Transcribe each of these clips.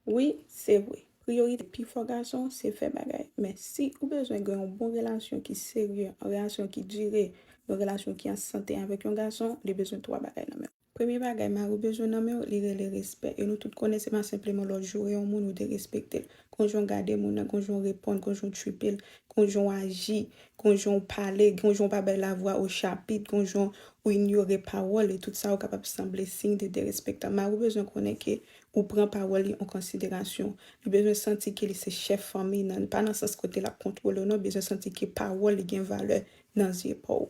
Wi se vre, priyorite pi fò gason se fè bagay. Men si ou bezwen gen yon bon relasyon ki serye, yon relasyon ki dire, yon relasyon ki an sante avèk yon gason, li bezwen 3 bagay nan men w. Premye bagay mari w bezwen nan men w, li rele respè. E nou tout konnen se pa senpleman lè w joure yon moun ou derespekte l. Kon jan w gade moun nan, kon jan w reponn, kon jan w tchuipe l, kon jan w aji, kon jan w pale, kon jan w pa bay lavwa o chapit, kon jan ou inyore pawòl li, tout sa yo kapab sanble siy de derespektan. Mari w bezwen konnen ke ou pran pawòl li an konsiderasyon. Li bezwen santi ke li se chèf fanmi nan, pa nan sans kote l ap kontwole w non, bezwen santi ke pawòl li gen valè nan zye pa w.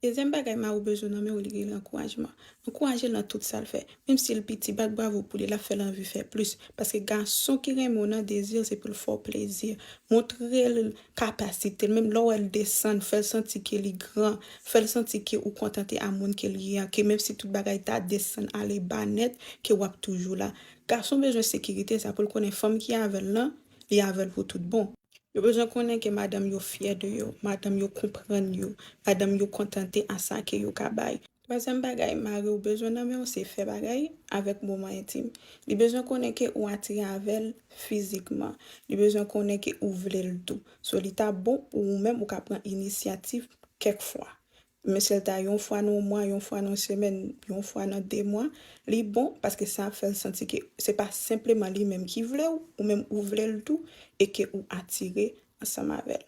Dezyèm bagay Marou bezwen nan men w li rele ankourajman. Ankouraje l nan tout sa l fè. Menm si l piti, bat bravo pou li, l ap fè l anvi fè plis. Paske gason ki renmen w nan dezi l se pou l fè w plezi. Montre l kapasite l menm lè w wè l desann fè l santi ke li gran fè l santi ke ou kontante a moun ke l ye an ke menm si tout bagay ta desann ale ba nèt ke w ap toujou la gason bezwen sekirite sa pou l konnen fanm ki avè l lan li avè l pou tout bon. Yo bezwen konnen ke madanm yo fyè de yo madanm yo konprann yo madanm yo kontante a sa ke yo ka bay. Twazyèm bagay mari w bezwen nan men w se fè bagay avèk moman entim. Li bezwen konnen ke ou atire avè l fizikman. Li bezwen konnen ke ou vle l tou. So li ta bon pou ou menm ou ka pran inisyativ kèk fwa. Menm si l ta yon fwa nan yon mwa, yon fwa nan yon semèn, yon fwa nan de mwa, li bon paske sa ap fè l santi ke se pa senpleman li menm ki vle w, ou menm ou vle l tou e ke ou atire ansanm avè l.